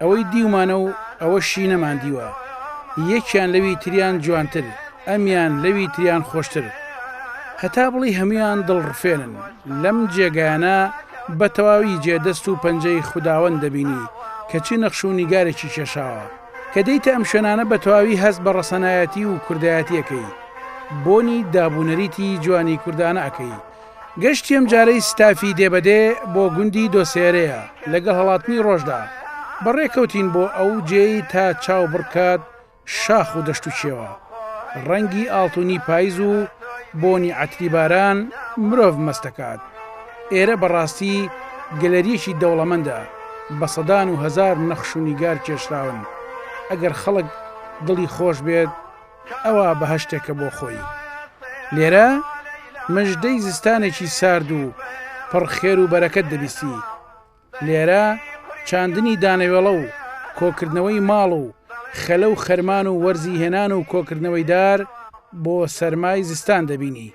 ئەوەی دیومانە و ئەوەشی نەماندیوە یەکیان لەوی تریان جوانتر ئەمیان لەوی تریان خۆشتر هەتا بڵی هەمویان دڵڕفێنن لەم جێگایانە بە تەواوی جێ دەست و پەنجەی خوداوەند دەبینی کە چی نەخش و نیگارێکی کێشاوە کە دێیتە ئەم شوێنانە بە تەواوی هەست بە ڕەسەنایەتی و کوردایەتیەکەی بۆنی دابونەریتی جوانی کوردانە ئەکەی گەشتی ئەم جارەی ستافی دێ بە دێ بۆ گوندی دۆسێرێە لەگەڵ هەڵاتنی ڕۆژدا بە ڕێ کەوتین بۆ ئەو جێی تا چاو بڕکات شاخ و دەشت و چێوە ڕەنگی ئاڵتونی پایز و بۆنی عەتری باران مرۆڤ مەستەکات ئێرە بە ڕاستی گەلەریەکی دەوڵەمەندە بە سەدان و هەزار نەخش و نیگار کێشراون ئەگەر خەڵک دڵی خۆش بێت ئەوە بەهەشتێکە بۆ خۆی. لێرە مژدەی زستانێکی سارد و پڕ خێر و بەرەکەت دەبیستی. لێرە چاندنی دانەوێڵە و کۆکردنەوەی ماڵ و خەلە و خەرمان و وەرزی هێنان و کۆکردنەوەی دار بۆ سەرمای زستان دەبینی.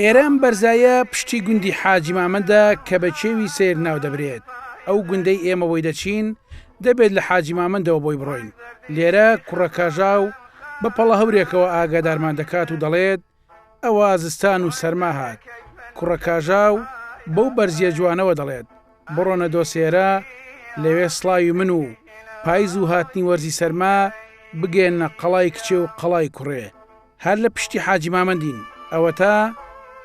ئێرە ئەم بەرزایە پشتی گوندی حاجی مامەندە کە بە چێوی سیر ناو دەبرێت ئەو گوندەی ئێمە بۆی دەچین دەبێت لە حاجی مامەندەوە بۆی بڕۆین لێرە کوڕە کاژاو بە پەڵە هەورێکەوە ئاگادارمان دەکات و دەڵێت ئەوا زستان و سەرما هات. کوڕە کاژاو بەو بەرزییە جوانەوە دەڵێت، بڕۆنە دۆسێرە، لەوێ سڵاوی من و پایز و هاتنی وەرزی سەرما بگەیەننە قەڵای کچێ و قەڵای کوڕێ. هەر لە پشتی حاجی مامەندین. ئەوەتا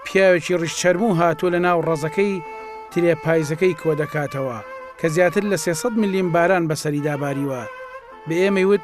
پیاوێکی ڕیشچەرموو هاتووە لە ناو ڕەزەکەی ترێ پایزەکەی کۆ دەکاتەوە، کە زیاتر لە سێ سەد ملیم باران بەسەریدا باریوە. بە ئێمەی وت.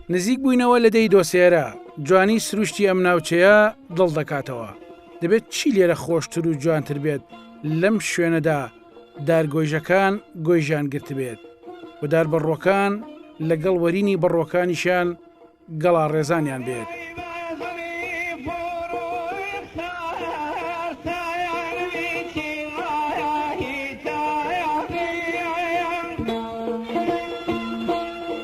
نزیک بووینەوە لە دێی دۆسێرە، جوانی سروشتی ئەم ناوچەیە دڵ دەکاتەوە. دەبێت چی لێرە خۆشتر و جوانتر بێت لەم شوێنەدا دارگۆیژەکان گۆیژیان گرتبێت و دار بەڕووەکان لەگەڵ وەرینی بەڕووەکانیشیان گەڵاڕێزانیان بێت.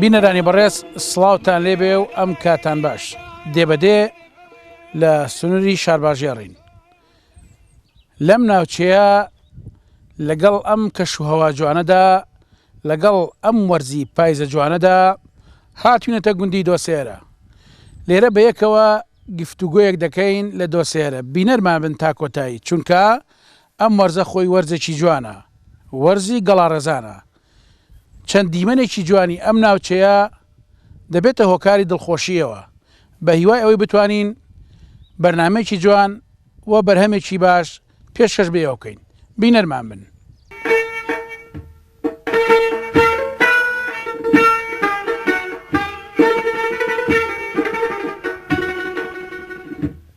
بینەرانی بەڕێز سڵاوتان لێبێ و ئەم کاتان باش دێبەدێ لە سنووری شارباژێڕین لەم ناوچەیە لەگەڵ ئەم کەش و هەوا جوانەدا لەگەڵ ئەم وەرزی پایزە جوانەدا هاتوینەتە گوندی دۆسێرە لێرە بە یەکەوە گفتوگویەک دەکەین لە دۆسێرە بینەرمان بن تا کۆتایی چونکە ئەم وەرزە خۆی وەرزێکی جوانە، وەرزی گەڵاڕێزانە. چەند دیمەنێکی جوانی ئەم ناوچەیە دەبێتە هۆکاری دڵخۆشییەوە. بە هیوای ئەوەی بتوانین بەرنامەیەکی جوان و بەرهەمێکی باش پێشکەش بە ئێوە بکەین. بینەرمان بن.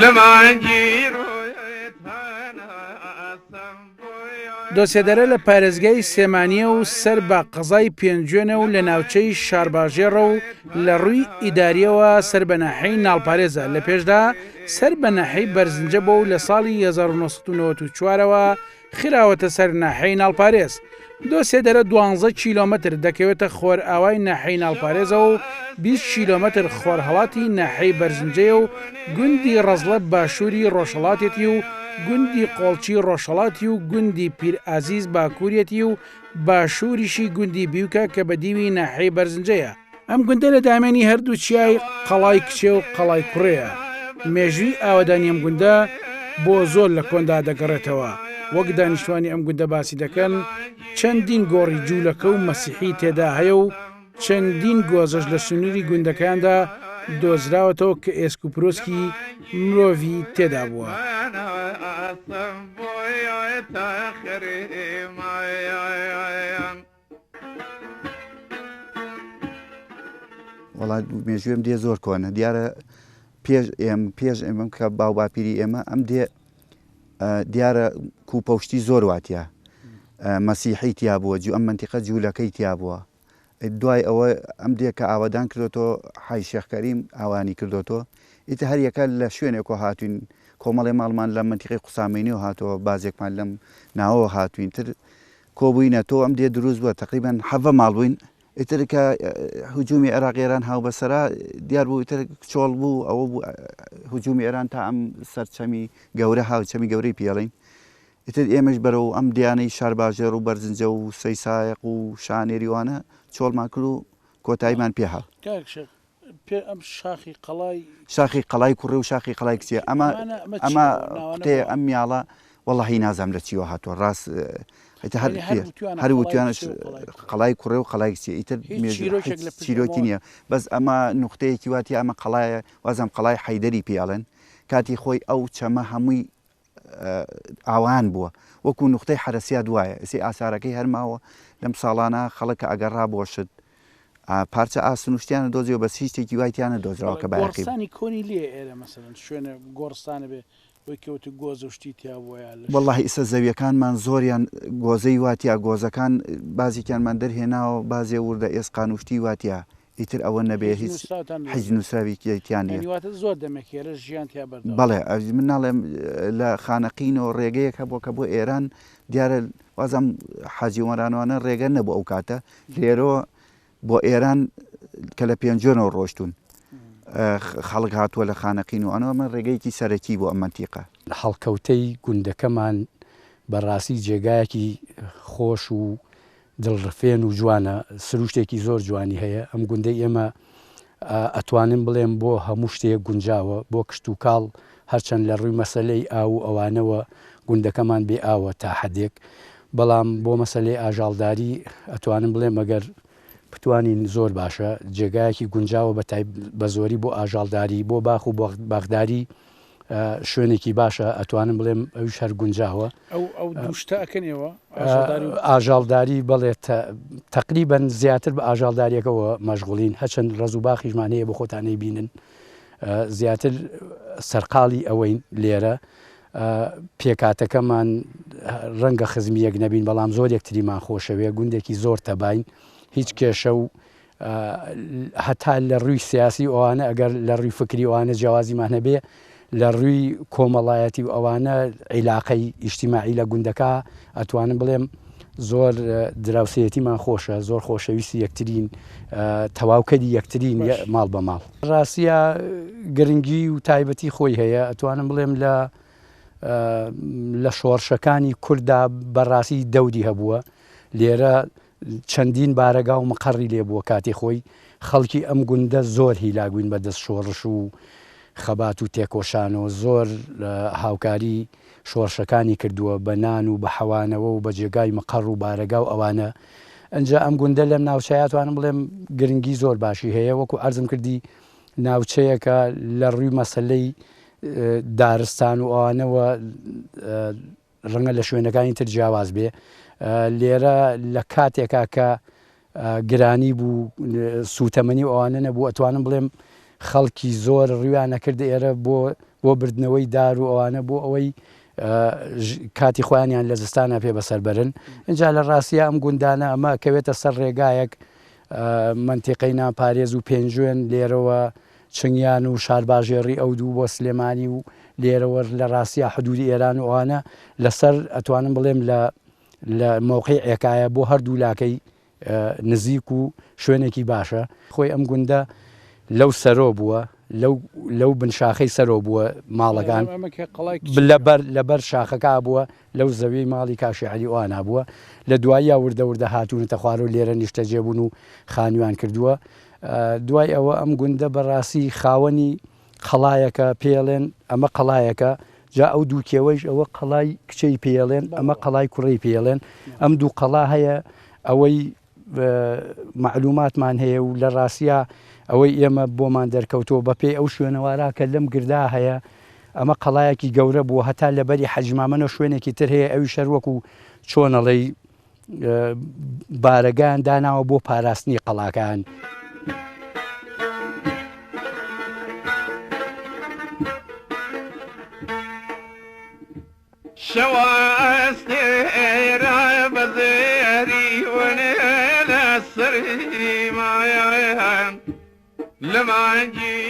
لە مانگی ڕۆیت هەناسەم دۆسێدەرە لە پارێزگای سێمانیە و سەر بە قەزای پێنجوێنە و لە ناوچەی شارباژێڕە و لە ڕووی ئیداریەوە سەر بە ناحەی ناڵپارێزە لە پێشدا سەر بە ناحەی بەرزنجە بۆ و لە ساڵی 1994ەوە خراوەتە سەر ناحیەی ناڵپارێز. دۆسێدەرە دوانزە کیلۆمەتر دەکەوێتە خۆرئاوای ناحیەی ناڵپارێزەوە و بیست کیلۆمەتر خۆرهەڵاتی ناحیەی بەرزنجەیە و گوندی ڕەزڵە باشووری ڕۆژهەڵاتێتی و گوندی قۆڵچی ڕۆژهەڵاتی و گوندی پیرئازیز باکووریەتی و باشووریشی گوندی بیوکە کە بەدیوی ناحیەی بەرزنجەیە. ئەم گوندە لە دامێنی هەردوو چیای قەڵای کچێ و قەڵای کوڕەیە مێژووی ئاوادانی ئەم گوندە بۆ زۆر لە کۆندا دەگەڕێتەوە وەک دانیشتوانی ئەم گوندە باسی دەکەن چەندین گۆڕی جوولەکە و مەسیحی تێدا هەیە و چەندین گۆزەش لە سنووری گوندەکاندا دۆزراوەتەوە کە ئێسک و پرۆسکی مرۆڤی تێدا بووە. وەڵا مێژوێم دێ زۆر کۆنە دیارە پێش ئێم پێش ئێمەم کە باو باپیری ئێمە ئەم دێ دیارە کوپەشتی زۆر واتە مەسیحی تیا بووە جو ئەم منتیقە جوولەکەی تیا بووە دوای ئەوە ئەم دێکە ئاوادان کردۆتۆ حای شێخکەریم ئاوانی کردۆتۆ ئیتە هەریەکە لە شوێنێکۆ هاتوین کۆمەڵی ماڵمان لە منتیقی قوسامینی و هاتەوە بازێکمان لەم ناوەوە هاتوین تر کۆبوینە تۆ ئەم دێ دروست بوە تەقریبەن حەڤە ماڵ بوین ئیتر کە هجومی عێراق ئێران هاوبەسەرا دیار بوو ئیتر چۆڵ بوو ئەوە بوو هجومی ئێران تا ئەم سەرچەمی گەورە هاوچەمی گەورەی پێڵین ئیتر ئێمەش بەرەوە ئەم دیانەی شارباژێڕ و بەرزنجە و سەیسایق و شانێریوانە چۆڵمان کرد و کۆتاییمان پێهاو پێ ئەم شاخی قەڵای. شاخی قەڵای کوڕێ و شاخی قەڵای کچێ ئەمە ئەمە قوتەیە ئەم میاڵە وەڵی نازام لە چیوە هاتووە ڕاست هەر وتوانش قەڵای کوڕێ و قەڵای کچێ ئیتر چیرۆکی نییە بەس ئەمە نقطەیەکی واتی ئەمە قەڵایە وازم قەڵای حیدەری پیاڵن کاتی خۆی ئەو چەمە هەمووی ئاوایان بووە وەکو نوختەی حەرەسیات وایە ئێسەی ئاسارەکەی هەر ماوە لەم ساڵانە خەڵک کە ئەگەڕا بۆ شت پارچە ئاسن و شتیانە دۆزیەوە بەس هیچ شتێکی وای تیانە دۆزراوە کە بایەخی بێ. گۆڕستانی کۆنی لێ ئێرە مەسەلەن شوێنە گۆڕستانە بێ وەی کە وتی گۆزە و شتی تیا بووە یا لەش. وەڵڵاهی ئیسە زەویەکانمان زۆریان گۆزەی وا تیا گۆزەکان بازێکیانمان دەرهێناوە بازێ وردە ئێسقان و شتی وا تیا ئیتر ئەوە نەبێ هیچ حیچ نوسراویکی تیا نیە یانی واتە زۆر دەمێک هێرش ژیان تیا بەردەوام بەڵێ ئەژ من ناڵێم لە خانەقینەوە ڕێگەیەک هەبووە کە بۆ ئێران دیارە وازم حاجی وەرانوانە ڕێگە نەبوو ئەو کاتە لێرەوە بۆ ئێران کە لە پێنجۆنەوە ڕۆشتون خەڵک هاتووە لە خانەقین و ئەنەوە من ڕێگەیەکی سەرەکی بۆ ئەم منتیقە هەڵکەوتەی گوندەکەمان بەڕاستی جێگایەکی خۆش و دڵ ڕفێن و جوانە سروشتێکی زۆر جوانی هەیە ئەم گوندەی ئێمە ئەتوانم بڵێم بۆ هەموو شتێک گونجاوە بۆ کشت و کاڵ هەرچەند لە ڕووی مەسلەی ئاو و ئەوانەوە گوندەکەمان بێ ئاوە تا حدێک بەڵام بۆ مەسلەی ئاژاڵداری ئەتوانم بڵێ مەگەر بتوانین زۆر باشە جێگایەکی گونجاوە بە بە زۆری بۆ ئاژاڵداری بۆ باخ و بەغداری شوێنێکی باشە ئەتوانم بڵێم ئەوش هەر گونجاوە ئاژاڵداری بڵێت تقریبن زیاتر بە ئاژاڵداریەکەەوە مەژغولین هەچەند ڕز و باخیشمان هەیە بۆ خۆتانەی بینن زیاتر سەرقاڵی ئەوەین لێرە پێکاتەکەمان ڕەنگە خزمیەک نەبین بەڵام زۆر یەکتریمان خۆشەوێ گوندێکی زۆر تەبین هیچ کێشە و هەتا لە ڕووی سیاسی ئەوانە ئەگەر لە ڕووی فکری ئەوانە جیاوازیمان هەبێ لە ڕووی کۆمەڵایەتی و ئەوانە عیلاقەی ئیشتیماعی لە گوندەکە ئەتوانم بڵێم زۆر دراوسەتیمان خۆشە زۆر خۆشەویستی یەکترین تەواوکەری یەکترین ماڵ بە ماڵ ڕاستە گرنگی و تایبەتی خۆی هەیە ئەتوانم بڵێم لە لە شۆڕشەکانی کووردا بەڕاستی دەودی هەبووە لێرە چەندین بارەگا و مقەڕی لێ بووە، کاتی خۆی خەڵکی ئەم گوندە زۆر هیلاک بووین بە دەست شۆڕش و خەبات و تێکۆشانەوە، زۆر هاوکاری شۆڕشەکانی کردووە بە نان و بە حەوانەوە و بە جێگای مقەڕ و بارەگا و ئەوانە، ئنجا ئەم گوندە لەم ناوچەیا توانم بڵێم گرنگی زۆر باشی هەیە، وەکو عەرزم کردی ناوچەیەکە لە ڕووی مەسەلەی دارستان و ئەوانەوە، ڕەنگە لە شوێنەکانی تر جیاواز بێ لێرە لە کاتێکا کە گرانی بوو سووتەمەنی ئەوانە نەبوو ئەتوانم بڵێم خەڵکی زۆر ڕویانە کرد ئێرە بۆ بۆ بردنەوەی دار و ئەوانە بۆ ئەوەی کاتی خۆیانیان لە زستانە پێ بەسەربرن اینجا لە ڕاستە ئەم گوندانە ئەمە کەوێتە سەر ڕێگایەک منتیقەی ناپارێز و پێنجوێن لێرەوە چنگیان و شارباژێڕی ئەو دوو بۆ سلێمانی و لێرەوەر لە ڕاستیا حدوودی ئێران و ئەوانە لە سەر ئەتوانم بڵێم لە لە مەوقەی عێکایە بۆ هەر دوو لاکەی نزیک و شوێنێکی باشە خۆی ئەم گوندە لەو سەرۆ بووە لەو لەو بن شاخەی سەرۆ بووە ماڵەکان لەبەر لەبەر شاخەکە بووە لەو زەویەی ماڵی کاشی عەلی و ئانا بووە، لە دواییا وردە وردە هاتوونەتە خوارەوە لێرە نیشتەجێ بوون و خانوویان کردووە. دوای ئەوە ئەم گوندە بە ڕاستی خاوەنی قەڵایەکە، پێیەڵێن ئەمە قەڵایەکە، جا ئەو دوو کێوەیش ئەوە قەڵای کچێی پێیەڵێن، ئەمە قەڵای کوڕێی پێیەڵێن، ئەم دوو قەڵا هەیە ئەوەی، مەعلووماتمان هەیە و لە ڕاستیا ئەوەی ئێمە بۆمان دەرکەوتەوە بەپێی ئەو شوێنەوارە کە لەم گردا هەیە ئەمە قەڵایەکی گەورە بووە هەتا لەبەری حەجمامەەوە شوێنێکی تر هەیە ئەوی شەروەک و چۆنەڵی بارەگان داناوە بۆ پاراستنی قەڵاکان. شەوە ئەستێرە بە زێری ون لە سریمایان لە مانگی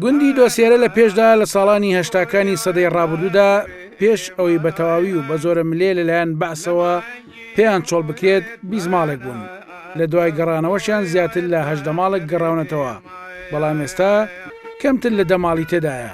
گوندی دۆسێرە لە پێشدا لە ساڵانی هەشتاکانی سەدەی ڕابردوودا پێش ئەوەی بە تەواوی و بە زۆرە ملێ لەلایەن بەعسەوە پێیان چۆڵ بکرێت بیزماڵێک بوون لە دوای گەڕانەوەشیان زیاتر لە هەشدە ماڵک گەڕاونەتەوە بەڵام ئێستا کەمتر لە دەماڵی تێدایە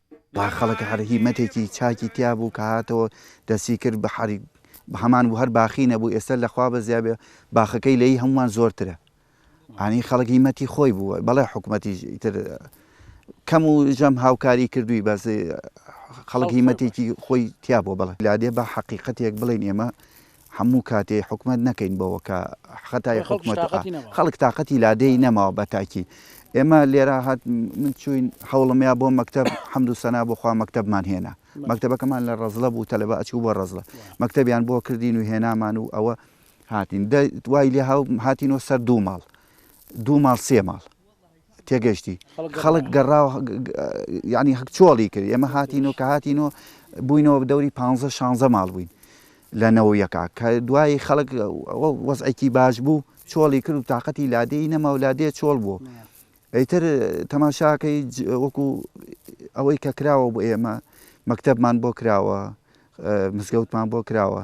با خەڵک هەر هیمەتێکی چاکی تیا بوو کە هاتەوە دەستی کرد بە حەری هەمان بوو هەر باخی نەبوو ئێستا لە خوا بەزیا بێ باخەکەی لەی هەمووان زۆرترە ئانی خەڵک هیمەتی خۆی بوو بەڵێ حکوومەتی تر کەم و ژەم هاوکاری کردووی بەس خەڵک هیمەتێکی خۆی تیا بۆ بڵێ لادێ بە حەقیقەتێک بڵێن ئێمە هەموو کاتێ حکومەت نەکەین بەوە کە خەتای حکومەت خەڵک تااقەتی لادێی نەماوە بە تاکی ئێمە لێرا هات من چوین حوڵمیا بۆ مەکتب حەمد و سەنا بۆخوا مەکتبمان هێنا مەکتبەکەمان لە ڕزلە بوو تەلەبە ئەچوو بۆ ڕزلە مەکتبیان بۆ کردین و هێنامان و ئەوە هاتین دوای لێ هاتینەوە سەر دوو ماڵ دوو ماڵ سێ ماڵ تێگەشتی خەڵک گەڕاو یانی هەک چۆڵی کرد ئێمە هاتین و کە هاتین و بووینەوە بدەوری پ شانزە ماڵ بووین لە نەوەیەکە کە دوایی خەڵک وەزعێکی باش بوو چۆڵی کرد و تااقەتی لادێی نەما و لادێ چۆڵ بوو ئەیتر تەماشاکەی وەکو ئەوەی کە کراوە بۆ ئێمە مەکتەبمان بۆ کراوە مزگەوتمان بۆ کراوە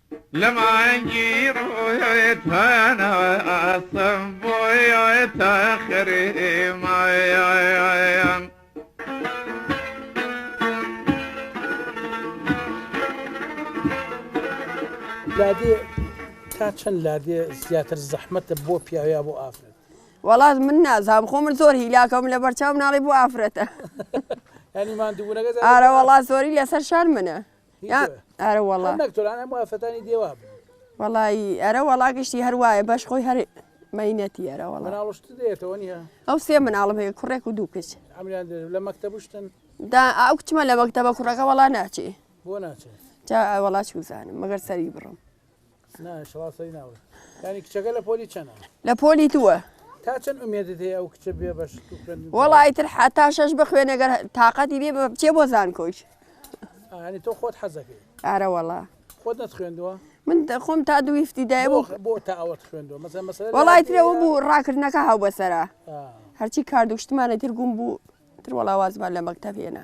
لە مانگی ڕۆیت هەناسەم بۆیتە خریمایان لادێ تا چەند لادێ زیاتر زەحمەتە بۆ پیاویا بۆ ئافرەت وڵات من نازام خۆ من زۆر هیلاکەم لە بەرچاو ناڵی بۆ ئافرەتە ئەنیمان دوورەگە ئارە وڵات زۆری لەسەر شار منە ئەرە وڵا نەکتۆران ئەم وافەتانی دێوا بن وەڵی ئەرە وەڵا گشتی هەروایە بەش خۆی هەر مەینەتی ئەرە وەڵا ناڵشت دێتەوە نیە ئەو سێ مناڵم هەیە کوڕێک و دوو کچ ئەمیان لە مەکتەبشتن دا ئەو کچمە لە مەکتەبە کوڕەکە وەڵا ناچێ بۆ ناچێت جا وەڵا چوزانم مەگەر سەری بڕم لە پۆلی دووە وەڵا ئیتر حتا شەش بخوێنەگەر تااقەتی بێ بچێ بۆ زان کۆچ تۆ خۆت حەزەکەی ئارە وەڵا خۆت خوێندووە من خۆم تا دوویفتی دای وەڵای ترەوە بوو ڕاکردنەکە هاو بەسرە هەرچی کاردوشتمانە تر گوم بوو تر وەڵاوازمان لە مەکتەبێنە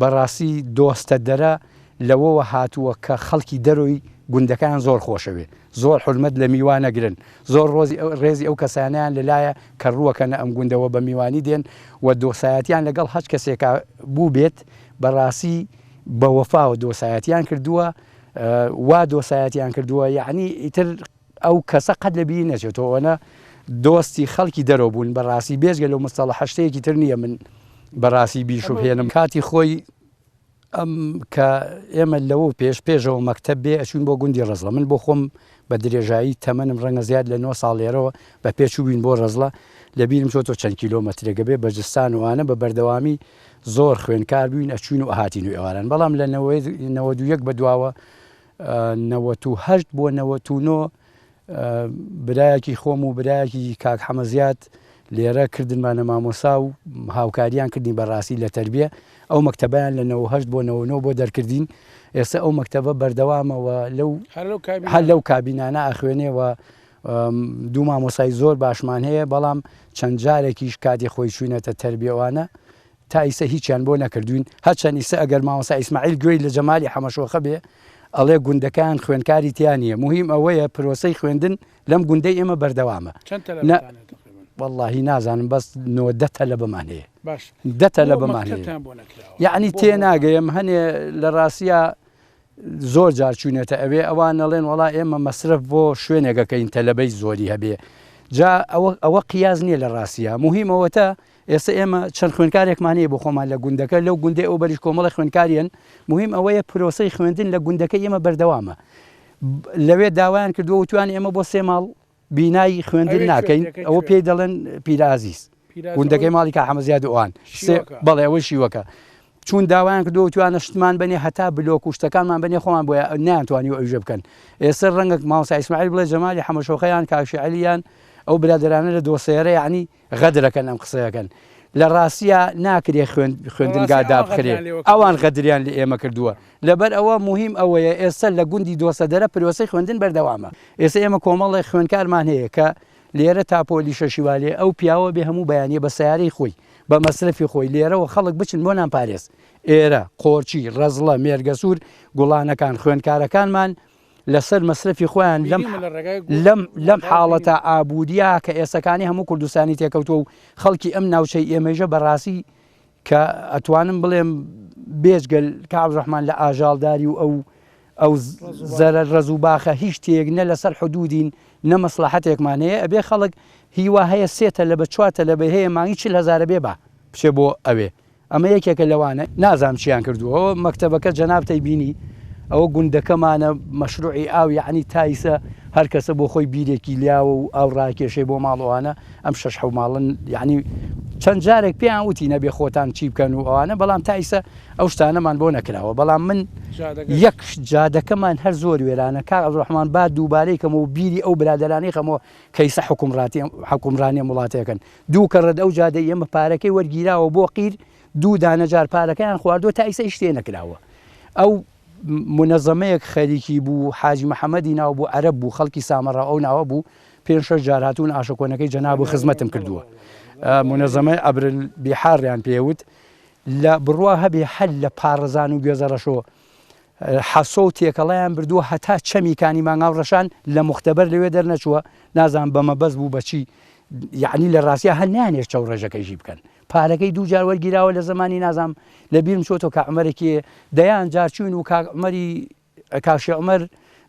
بەڕاستی دۆستە دەرە لەوەوە هاتووە کە خەڵکی دەرۆی گوندەکەیان زۆر خۆشەوێ زۆر حورمەت لە میوان ئەگرن زۆر ڕۆزی ڕێزی ئەو کەسانەیان لە لایە کە ڕووەکەنە ئەم گوندە وە بە میوانی دێن وە دۆسایەتیان لە گەڵ هەچ کەسێکا بووبێت بەڕاسی بە وەفاوە دۆسایەتیان کردووە وا دۆسایەتیان کردووە یەعنی ئیتر ئەو کەسە قەت لە بیری نەچێتۆ ئەوەنە دۆستی خەڵکی دەرەوە بوون بە ڕاستی بێجگە لەو مستەڵەحە شتێکی تر نییە من بە ڕاستی بیشوبهێنم کاتی خۆی ئەم کە ئێمە لەوە پێش پێشەوە مەکتب بێ ئەچوین بۆ گوندی ڕزڵە من بۆ خۆم بە درێژایی تەمەنم ڕەنگە زیاد لە 9 ساڵێرەوە بە پێچووین بۆ ڕزڵە لە بیرم چۆتۆ چەند کیلۆمەترێکە بێ بەجستان وانە بە بەردەوامی زۆر خوێنکار بووین ئەچوین و هاتین و ئێواران بەڵام لە نەوە دوویەک بە دواوە نەوەت و هەشت بۆ نەوەت و نۆ برایەکی خۆم و برایەکی کاک حەمە زیاد لێرە کردنمانە مامۆسا و هاوکاریان کردین بەڕاستی لە تربیە ئەو مەکتتەبیان لە 98 بۆ 99 بۆ دەرکردین ئێستا ئەو مەکتتەبە بەردەوامەوە لەو هەر لەو کابینانە ئاخوێنێەوە دوو مامۆسای زۆر باشمان هەیە بەڵام چەند جارێکیش کاتی خۆی چوینەتە تربیەوانە تا ئیسە هیچیان بۆ نەکردوین هەرچەن ئیسە ئەگەر مامۆستا ئیسماعیل گوێی لە جەمالی حەمەشۆخە بێ ئەڵێ گوندەکان خوێندکاری تیا نیە موهیم ئەوەیە پرۆسەی خوێندن لەم گوندەی ئێمە بەردەوامە چەند تەلەبەتان هەیە تقریبا؟ واللهی نازانم بەس نۆ دە تەلەبەمان هەیە باش دە تەلەبەمان هەیە مەکتەبتان بۆ نەکراوە یعنی بۆ تێناگەیم هەنێ لە ڕاستیە زۆر جار چوینەتە ئەوێ ئەوان نەڵێن وڵا ئێمە مەسرف بۆ شوێنێگەکەین تەلەبەی زۆری هەبێ جا ئەوە ئەوە قیاز نییە لە ڕاستیە مهمەوەتە ئێستا ئێمە چەند خوێندکارێکمان هەیە بۆ خۆمان لە گوندەکە، لەو گوندەی ئەو بەریش کۆمەڵێ خوێندکار هەن، موهیم ئەوەیە پرۆسەی خوێندن لە گوندەکەی ئێمە بەردەوامە، لەوێ داوایان کردووە وتویانە ئێمە بۆ سێ ماڵ بینای خوێندن ناکەین، ئەوە پێی دەڵێن پیرە ئازیز، گوندەکەی ماڵی کاک حەمە زیاد و ئەوان، بەڵێ ئەوەی شیوەکە، چوون داوایان کردووە وتویانە شتمان بەنێ هەتا بلۆک و شتەکانمان بەنێ خۆمان بۆ نەیانتوانیوە ئەویژە بکەن، ئێستا ڕەنگە مامۆستا ئیسماعیل بڵێ جەمالی حەمەشۆخەیان، کاک شێعەلیان، ئەو برادەرانە لە دۆسێرە یەعنی غەدرەکەن ئەم قسەیەکەن لە ڕاستیا ناکرێ خوێندنگا دابخرێ ئەوان غەدریان لە ئێمە کردووە لەبەر ئەوە مهم ئەوەیە ئێستا لە گوندی دۆسەدەرە پرۆسی خوێندن بەردەوامە ئێستا ئێمە کۆمەڵی خوێنکارمان هەیە کە لێرە تاپۆلی شەشیوالێ ئەو پیاوە بێ هەموو بەیانە بە سیارەی خۆی بە مەسرفی خۆی لێرەوە خەڵک بچن بۆ نان پارێز ئێرە قۆرچی ڕەزڵە مێرگەسوور گوڵانەکان خوێنکارەکانمان لەسەر مەسرەفی خۆیان لەم لەم لەم حاڵەتە ئابووریە کە ئێسەکانی هەموو کوردستانی تێکەوتوە و خەڵکی ئەم ناوچەی ئێمەژە بەڕاستی کە ئەتوانم بڵێم بێجگەل کاڵ ڕحمان لە ئاژاڵداری و ئەو ئەو زەرە ڕز و باخە هیچ تێک نە لەسەر حدودین نە مەسلحەتێکمان هەیە ئەبێ خەڵک هیوا هەیە سێتە لە بە چواتە لە بە هەیە مانگی چل هزارە بێ بە بچێ بۆ ئەوێ ئەمە یەکێکە لەوانە. نازانم چیان کردووە ئەوە مەکتەبەکە جەنابتەی بینی ئەوە گوندەکەمانە مەشروعی ئاو یەعنی تایسە هەرکەسە بۆ خۆی بیرێکی لاوە و ئاو ڕاکێشێ بۆ ماڵەوانە ئەم شەش حەو ماڵن یعنی چەند جارێک پێیان وتی نەبێ خۆتان چی بکەن و ئەوانە بەڵام تایسە ئەو شتانەمان بۆ نەکراوە بەڵام من یەک جادەکەمان هەر زۆر وێرانە کار ئەڵڕحمان با دووبارەی کەمەوە بیری ئەو برادرانەی خەمەوە کەیسە حکومڕاتی حکومڕانیە وڵاتەکەن دوو کەڕەت ئەو جادەی ئێمە پارەکەی وەرگیراوە بۆ قیر دوو دانە جار پارەکەیان خواردوە تا ئیسە هیچ تێنەکراوە ئەو منەزەمەیەک خەریکی بوو حاجی محەمەدی ناو بوو عەرەب بوو خەڵکی سامەڕا ئەو ناوە بوو پێنج شەش جار هاتوون ئاشەکۆنەکەی جەناب و خزمەتم کردووە منەزەمەی ئەبرل بیحاڕیان پێوت لە بڕوا هەبێ هەر لە پاڕزان و گوێزەڕەشۆ حەسۆ و تێکەڵەیان بردووە هەتا چەمی کانی مانگاو ڕەشان لە موختەبەر لەوێ دەرنەچووە نازانم بە مەبەست بوو بە چی یعنی لە ڕاستیا هەر نانێش چەو ڕێژەکەی ژی بکەن پارەکەی دوو جار وەرگیراوە لە زمانی نازام لە بیرم چۆتۆ کە عمەرێکی دەیان جار چوین و کاک عمەری کاشی عمەر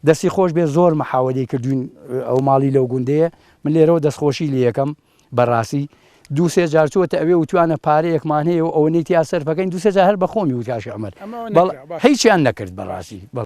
دەستی خۆش بێ زۆر مەحاوەدەی کردوین ئەو ماڵی لەو گوندەیە من لێرەوە دەستخۆشی لە یەکەم بەڕاستی دوو سێ جار چۆتە ئەوێ وتوانە پارەیەکمان هەیە و ئەوەنەی تیا سەرفەکەین دوو سێ جار هەر بەخۆمی و کاش عمر بەڵ هیچیان نەکرد بەڕاستی بەڵ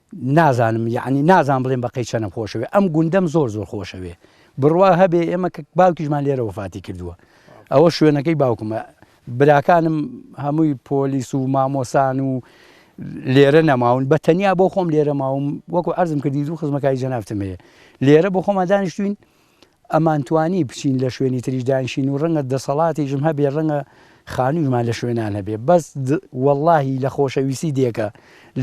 نازانم یەعنی نازانم بڵێم بەقەی چەنم خۆشەوێ ئەم گوندەم زۆر زۆر خۆشەوێ بڕوا هەبێ ئێمە کە باوکیشمان لێرە وفاتی کردووە ئەوە شوێنەکەی باوکمە براکانم هەمووی پۆلیس و مامۆسان و لێرە نەماون بە تەنیا بۆ خۆم لێرە ماوم وەکو ئەرزم کردی دوو خزمەکای جەنافتم هەیە لێرە بۆ خۆمان دانیشتوین ئەمانتوانی بچین لە شوێنی تریش دانیشین و ڕەنگە دەسەڵاتیشم هەبێ ڕەنگە خانوویشمان لە شوێنان هەبێ بەس وەڵاهی لە خۆشەویستی دێکە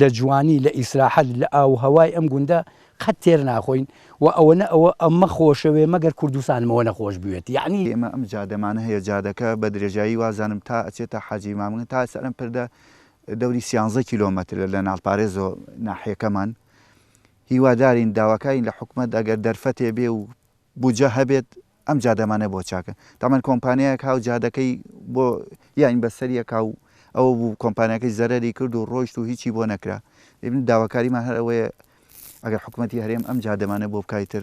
لە جوانی لە ئیسراحەت لە ئاووهەوای ئەم گوندە قەت تێر ناخۆین و ئەوەنە ئەوە ئەمە خۆشەوێ مەگەر کوردستانم ئەوەنە خۆش بوێت یەعنی ئێمە ئەم جادەمان هەیە جادەکە بە درێژایی وازانم تا ئەچێتە حاجی مامگن تا سەر ئەم پردە دەوری سیانزە کیلۆمەترە لە ناڵپارێزەوە ناحیەکەمان هیوادارین داواکارین لە حکومەت ئەگەر دەرفەتێ بێ و بودجە هەبێت ئەم جادەمانە بۆ چاکە تەمان کۆمپانیایەک هاو جادەکەی بۆ یانی بەسەریە کاو ئەوە بوو کۆمپانیاکەی زەرەری کرد و ڕۆیشت و هیچی بۆ نەکرا ئیبن داواکاریمان هەر ئەوەیە ئەگەر حکومەتی هەرێم ئەم جادەمانە بۆ بکای تر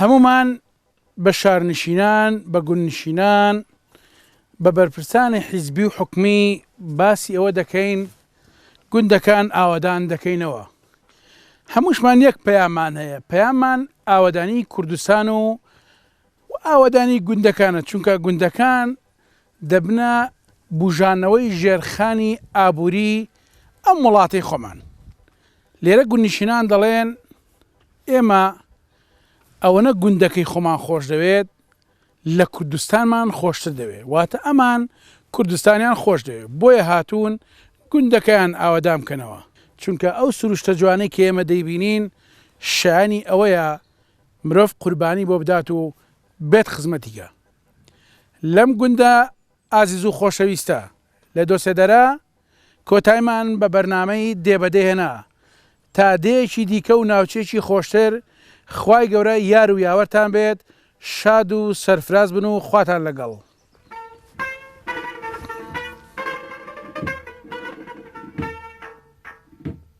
هەموومان بە شارنشینان، بە گوندنشینان، بە بەرپرسانی حیزبی و حکومی باسی ئەوە دەکەین گوندەکان ئاوەدان دەکەینەوە. هەمووشمان یەک پەیاممان هەیە، پەیاممان ئاوەدانیی کوردستان و ئاوەدانیی گوندەکانە، چونکە گوندەکان دەبنە بووژانەوەی ژێرخانی ئابووریی ئەم وڵاتەی خۆمان. لێرە گوندنشینان دەڵێن، ئێمە ئەوەنە گوندەکەی خۆمان خۆش دەوێت، لە کوردستانمان خۆشتر دەوێ واتە ئەمان کوردستانیان خۆش دەوێ بۆیە هاتوون گوندەکەیان ئاوەدان بکەنەوە چونکە ئەو سروشتە جوانەی کە ئێمە دەیبینین شایەنی ئەوەیە مرۆڤ قوربانی بۆ بدات و بێت خزمەتی گا لەم گوندە ئازیزو خۆشەویستە لە دۆسێدەرە کۆتایمان بە بەرنامەی دێ بە دێ هێنا تا دێیەکی دیکە و ناوچەیەکی خۆشتر خوای گەورە یار و یاوەرتان بێت شاد و سەرفراز بن و خواتان لەگەڵ.